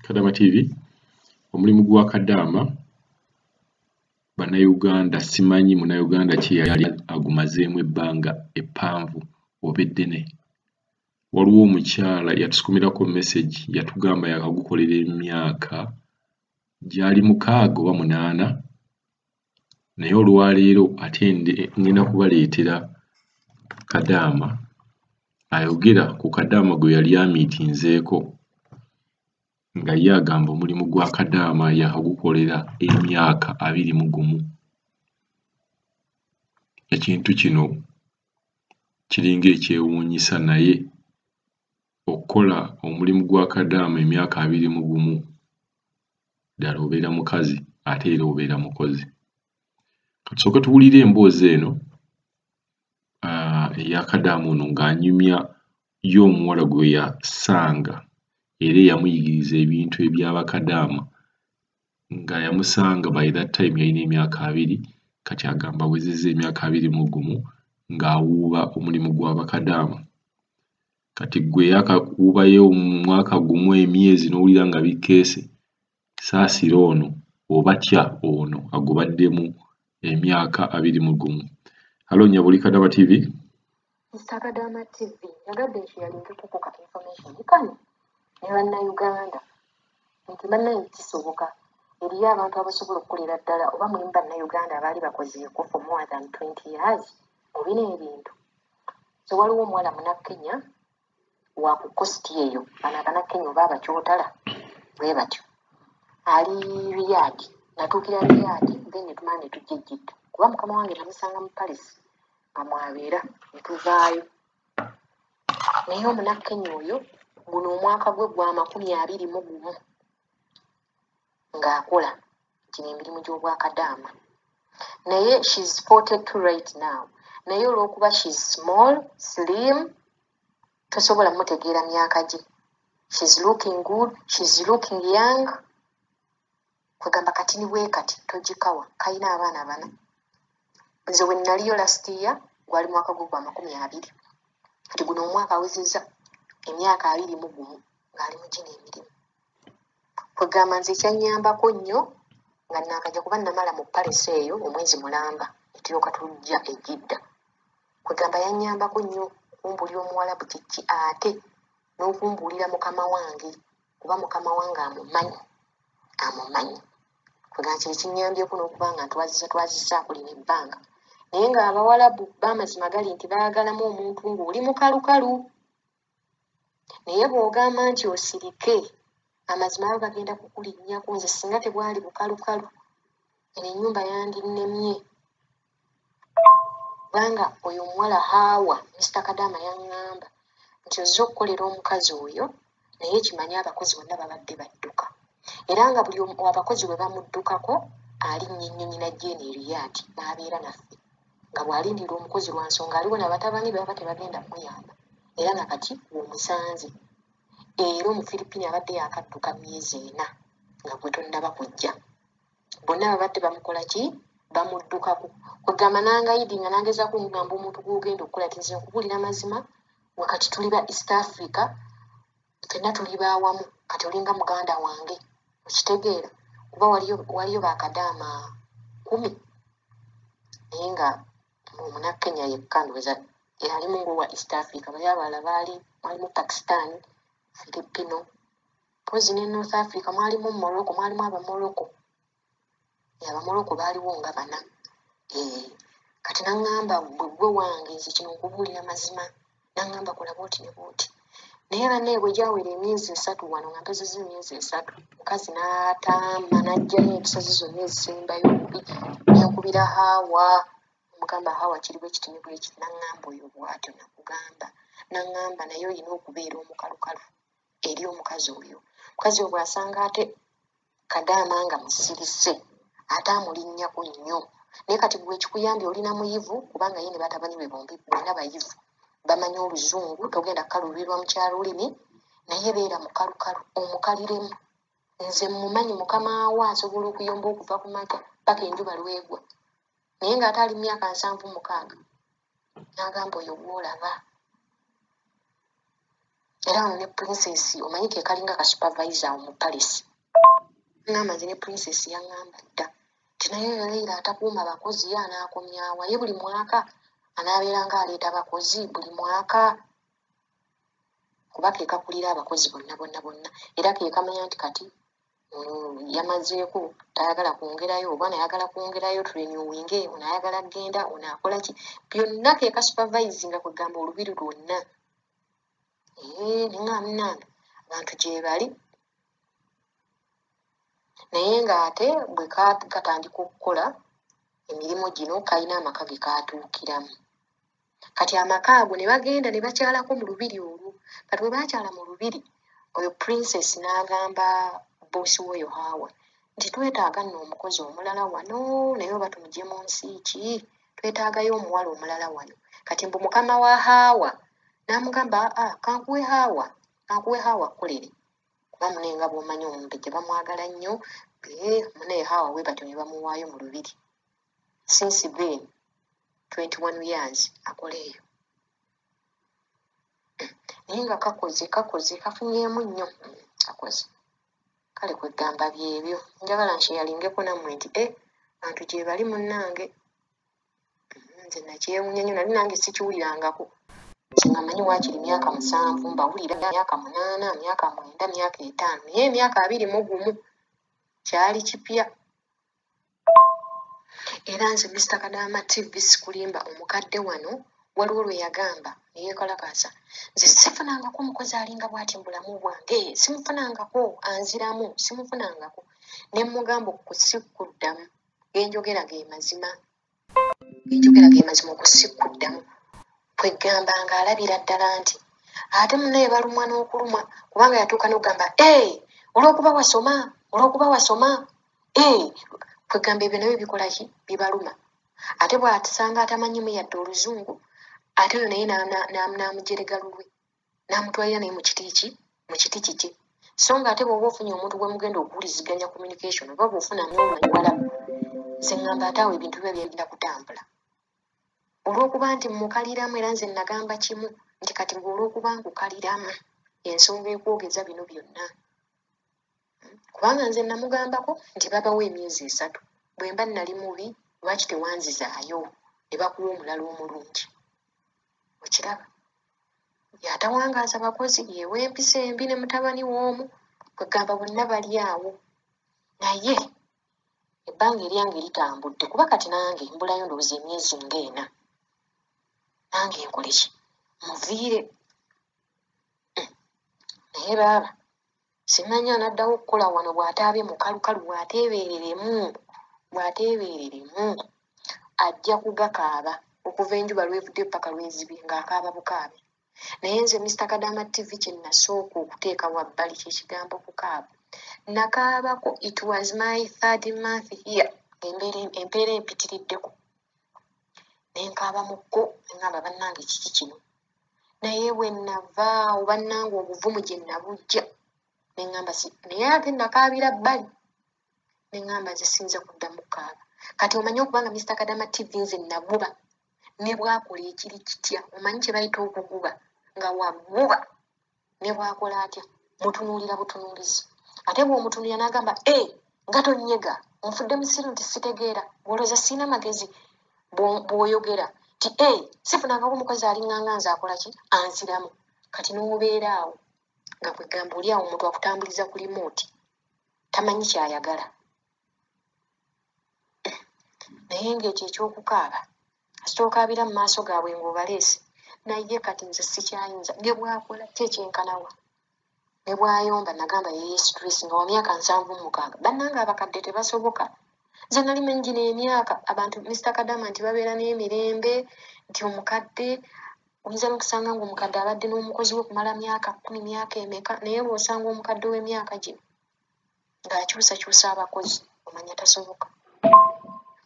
Kadaama TV omulimu gwa Kadaama bannayuganda simanyi munnayuganda ki yali agumazeemu ebbanga eppanvu oba eddene waliwo omukyala yatusukumirako message yatugamba yakagukolera emyaka gyali mukaaga oba munaana naye olwaleero ate ngenda kubaleetera kadaama ayogera ku kadaama gwe yali amiitinzeeko nga ye agamba omulimu gwa kadaama yakagukolera emyaka abiri mu gumu ekintu kino kiringa ekyewuunyisa naye okukola omulimu gwa kadaama emyaka abiri mu gumu ddala obeera mukazi ate era obeera mukozi tusooke tuwulire emboozi eno eyakadaama ono ng'anyumya ye omuwala gwe yasanga era eyamuyigiriza ebintu ebyabakadaama nga yamusanga by that time yalina emyaka abiri kati agamba wezeza emyaka abiri mu gumu ng'awuuba omulimu gw'abakadaama kati gwe yakakubayo omwaka gumu emyezi nowulira nga bikkeese saasira ono oba tya ono agubaddemu emyaka abiri mu gumu halo nyabuli kadaba tv Mr. Kadama TV, yagadde nti yali ntukukuka information kano ne bannayuganda nti bannanyi kisoboka eriyo abantu abasobola okukolera ddala oba mulimu bannayuganda abaali bakoze ekufu more than 20 years mu bino ebintu so waliwo omuwala munakenya wa ku kosti eyo bano abanakenya oba abakyotala bwe batyo ali riyadi natuukira riyadi then netumala netujja ejjidda kuba mukama wange namusanga mu paris nga mwabeera netuvaayo naye omunakenya oyo guno omwaka gwe gwa makumi abiri mu gumu ng'akola gino emirimu gy'obwakadaama naye shes 42 right now naye olw'okuba shes small slim tosobola mutegeera myaka gye shes looking good shes looking young kwegamba kati ni bwe kati togikawa kalina abaana bana nze we nnaliyo last year gwali mwaka gwo gwa makumi abiri kati guno omwaka awezeza emyaka abiri mu gumu ng'ali mu gino emirimu kwegamba nze kyanyambako nnyo nga nakaja kuba namala mu palesi eyo omwezi mulamba netulyoka tujja ejidda kwegamba yanyambako nnyo kumbulira omuwalabu kiki ate n'okumbuulira mukama wange kuba mukama wange amumanyi amumanyi nga kye kinyambyeko n'okuba nga ntwazisa twazisa kulina ebbanga naye ng'abawalabu b'amazima gali nti baagalamu omuntu ng'oli mukalukalu naye bw'ogamba nti osirike amazima abo bagenda kukulinnyako nze singa tebwali bukalukalu eno ennyumba yandinnemye kubanga oyo omuwala haawa misita kadaama yaŋŋamba nti ozze okukolera omukazi oyo naye kimanye abakozi bonna babadde badduka era nga buli abakozi bwe bamuddukako alinnya ennyonyi na jeeni eriyaati n'abeera naffe nga bw'alindidde omukozi lwa nsonga aliwo na batabani be baba tebagenda kumuyamba era na kati w'omusanze era omufiripiini abadde yakadduka myezi ena nga gwe tonnaba kujja bonna babadde bamukola ki bamuddukako kwegamba nangayidi nga nangezaako omugamba omuntu gwogenda okukola ti nze nkubuulira mazima wakati tuli ba east africa fenna tuli bawamu kati olinga muganda wange okitegeera kuba waliyo bakadaama kumi naye nga omunakenya yekka ndowoza yalimu ngowa east africa bali abalala baali mwalimu pakistan filipino pozi ne north africa mwalimu morocco mwalimu abamorocco abamuloko baaliwo nga bana eh, kati naŋŋamba gwe gwe wange nze kino nkubuulira mazima naŋŋamba kola bwoti ne bwoti naye bannaye bwe gyawera emyezi esatu wano nga mpezeza emyezi esatu mukazi n'ataama n'ajjayo enkisozi zonna ezisembayo obubi nenkubira haawa omugamba haawa kiri bwe kiti ne bwe kiti naŋŋamba oyo bwatyo nakugamba naŋŋamba naye olina okubeera omukalukalu eri omukazi oyo omukazi oyo bw'asanga ate kadaama nga musirise ate amulinnyako nnyo naye kati gwe ekikuyambye olina muyivu kubanga ye ne batabani be bombi bonna bayivu bamanyi oluzungu togenda kukaluurirwa mu kyalulimi naye beera mukalukalu omukaliremu nze mumanyi mukama wo asobola okuyomba okuva ku maka paka enjuba lwegwa naye ng'ate ali mu myaka nsanvu mukaaga n'agamba oyo gw'olaba era wano ne princess omanyi ke kalinga ka supervisor mu paris ngamba nze ne princess yaŋŋamba dda nti naye oyo leira atakuuma bakozi ye anaakomyawa ye buli mwaka anaabeeranga aleeta bakozi buli mwaka kuba ke kakulira abakozi bonna bonna bonna era ke kamanya nti kati mm, yamazeeko tayagala kwongerayo oba nayagala kwongerayo turenyowinge onayagala kugenda onakola ki byonna keka supervising kwegamba olubiri lwonna eh, ningamunana abantu gyebali naye ng'ate bwe katandika okukola emirimu gino kalina amaka ge kaatuukiramu kati amaka ago ne bagenda ne bakyalako mu lubiri olwo kati bwe baakyala mu lubiri oyo princess n'agamba boosi w'oyo haawa nti twetaaga nno omukozi omulala wano naye oba tumugye mu nsi ki twetaagayo omuwala omulala wano kati mbu mukama wa haawa n'amugamba aa ah, kankuwe haawa kankuwe haawa kkolere kuba mune nga bw'omanyi omumbejja bamwagala nnyo ee mune haawa we batyo ne bamuwaayo mu lubiri since then 21 years akola eyo naye nga kakoze kakoze kafunyemu nnyo kakoze kale kwegamba byebyo njagala nkyeyalingeko nammwe nti e bantu gyebali munnange mm, nze nakyewunya nyo nali nange sikiwulirangako nze nga manyi wakiri myaka musanvu mbawulira myaka munaana myaka mwenda myaka etaano naye emyaka abiri mu gumu kyali kipya era nze mista kadaama tv sikulimba omukadde wano waliwo lwe yagamba neyekalakaasa nze sifunangako omukozi alinga bwati mubulamu bwange simufunangako anziramu simufunangako nemugamba okusikuddamu genjogera ge mazima enjogera ge mazima okusikkuddamu kweggamba nga alabira ddala nti ate munaye balumwa n'okulumwa kubanga yatuuka n'okugamba e olwokuba wasoma olwokuba wasoma e kweggamba ebyo nabyo bikolaki bibaluma ate bwatisanga atamanyimu yadde oluzungu ate oyo naye n'amujerega lulwe n'amutwalira naye mu kiti ki mu kiti kikye so nga ate bwoba ofunye omuntu gwe mugenda okuwuliziganya communication oba bwofunamu omuwala nze ŋŋamba ate awo ebintu biba byagenda kutambula olw'okuba nti mukaliramu era nze nagamba kimu nti kati gwe olw'okuba nkukaliramu ensonga ekwogeza bino byonna kubanga nze namugambako nti babawo emyezi esatu bwemba nali mubi lwaki tewanzizaayo ne bakuwa omulala omulungi okiraba yatawangaaza bakozi yewa empisa embi ne mutabani woomu kwegamba bonna bali awo naye ebbanga eryange litambudde kuba kati nange mbulayo ndowooza emyezi ngaena nange nkoleki muviire hmm. naye baaba simanyi anaddawo okukola wano bw'ataabye mukalukalu bw'ateebeereremu bw'ateebeereremu ajja kugakaaba okuva enjuba lwevudde ppaka lwezibye ng'akaaba bukaabi naye nze mister kadaama tv kye nasooka okuteeka wabbali kyekigambo kukaaba nakaabako it was my third month here embeera empeera empitiriddeko nenkaaba mu kko engamba bannange kiki kino naye bwe nnava oba nnanga obuvumu gye nnabujja ne ŋŋamba si naye ate nakaabira bbali ne ŋŋamba nze siyinza kuddamu kukaaba kati omanyi okuba nga mister kadama tv nze naguba ne bwakola ekiri kitya omanyi kye bayita okuguba nga waguba ne bw'akola atya mutunuulira butunuulizi ate bw'omutunuulira n'agamba e eh, nga tonyega nfudde musiru nti sitegeera bwolooza sirina magezi bw'oyogera ti e eh, sifunangako omukozi alinganga nze akola ki anziramu kati n'obeera awo nga kwegamba oli awo omuntu akutambuliza ku limooti tamanyi kyayagala naye ngaekyo ekyokukaaba kasita okaabira mu maaso gaabwe ng'obaleese naye kati nze sikyayinza ne bwakola ki ekyenkanawa ne bwayomba nagamba yeye stress nga wa myaka nsanvu mukaaga bannanga abakadde tebasoboka nze nali manyi gino emyaka abantu mr kadama nti babeera n'emirembe nti omukadde oyinza nokusanga nga omukadde abadde n'omukozi we okumala myaka kumi myaka emeka naye lwosanga omukadde w'emyaka gino ng'akyusakyusa abakozi omanya tasoboka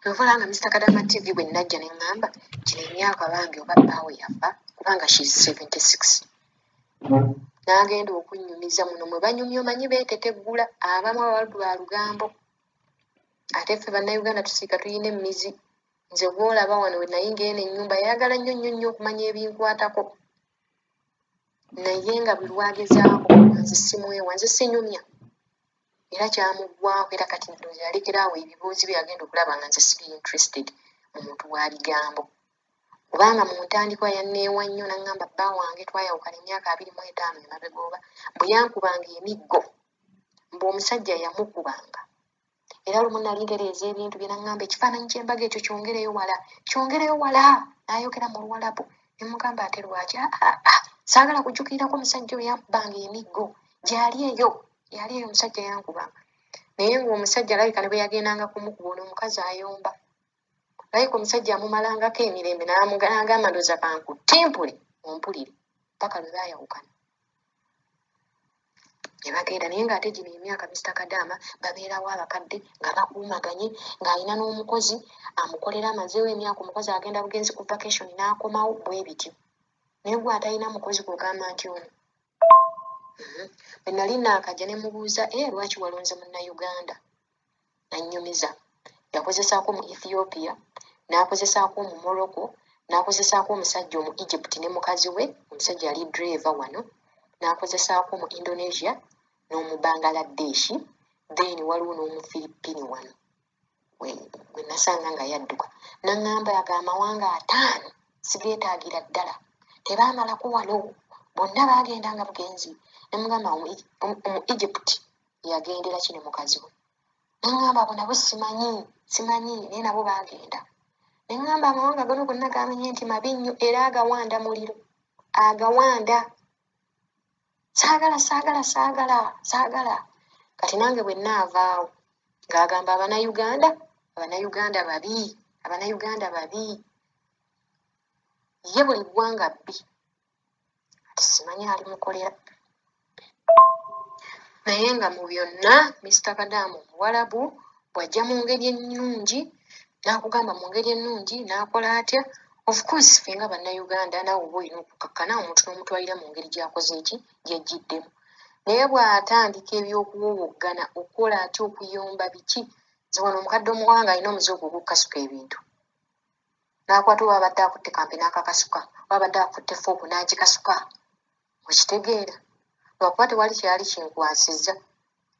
kyova olanga mr kadama tv bwe nnajja ne ŋŋamba kino emyaka bambi oba bbaawe yafa kubanga she is 76 n'agenda okunnyumiza muno mwe banyumya omanyi beeteteggula abamu abaldu ba lugambo ate ffe bannayuganda tusiika tulina emmizi nze gwolaba wano wenayinga eno ennyumba yayagala nnyo nnyo nnyo okumanya ebinkwatako naye nga buli lwagezaako nze simwewa nze sinyumya era kyamuggwako era kati ndowooza yalekera awo ebibuuzi bye yagenda okulaba nga nze siri interested mu muntu wa bigambo kubanga mu ntandikwa yanneewa nnyo naŋŋamba bba wange twayawukana emyaka abiri mu etaano emabega oba bwe yankubanga emiggo mbu omusajja yamukubanga era lumu nali ntereeza ebintu bye naŋŋamba ekifaananyi ky'embaga ekyo kyongereyo wala kyongereyo wala n'ayogera mu luwalabu ne mugamba ate lwaki ah, ah, ah, saagala kujjukirirako omusajja oyo yankubanga emiggo gyali eyo yali eyo omusajja yankubanga naye ng'omusajja alabika ne bwe yagendanga kumukuba ono omukazi ayomba layika omusajja amumalangako emirembe namugalanga amandoza kanku timpule ompulire paka lwe bayawukana nebagenda naye ngaate gino emyaka mista kadaama babeerawo abakadde nga bakuumaganye ng'alina n'omukozi amukolera amazeewo emyaka omukozi agenda bugenzi ku vacation n'akomawo bwe bityo naye gwe atalina mukozi gwogamba nti ono mhm. bwe nali naakajja ne mubuuza e eh, lwaki walonze munnauganda annyumiza yakozesaako mu ethiopia n'akozesaako mu morocco n'akozesaako omusajja omu egypt ne mukazi we omusajja yali driver wano n'akozesaako mu indonesia n'omu bangaladeshi then waliwo n'omu philippine wano gwe nasanga nga yadduka naŋŋamba ago amawanga ataano sigeetaagira ddala tebaamalako wano bonna baagenda nga bugenzi ne mugamba omu egypt yagendera kino mukazi we neŋŋamba abo nabo simanyi simanyi naye nabo baagenda ne ŋŋamba amawanga gano gonna gamenye nti mabi nnyo era agawanda muliro agawanda saagala saagala saagala saagala kati nange bwe nnaavaawo ng'agamba abanayuganda abanayuganda babi abanayuganda babi ye buli ggwanga bbi ati simanyi ali mukolera naye nga mu byonna mister kadaamu omuwalabu bw'ajja mu ngeri ennungi n'akugamba mu ngeri ennungi n'akola atya of course fe nga bannayuganda naawe oba olina okukakkana omuntu n'omutwalira mu ngeri gy'akoze eki gyejjiddemu naye bw'atandika eby'okuwowoggana okukola atya okuyomba biki nze wano omukadde omuwanga alina omuze ogwo ogukukasuka ebintu n'akwata oba abadde akutte kampi n'akakasuka oba abadde akutte fooku n'agikasuka okitegeera lwakuba tewali kyeyali kinkwasizza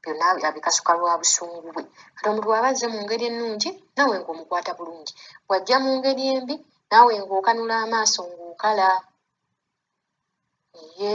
byonna abikasuka lwa busungu bwe kati omuntu waba azze mu ngeri ennungi naawe ng'omukwata bulungi wajja mu ngeri embi naawe ng'okanula amaaso ng'okala ye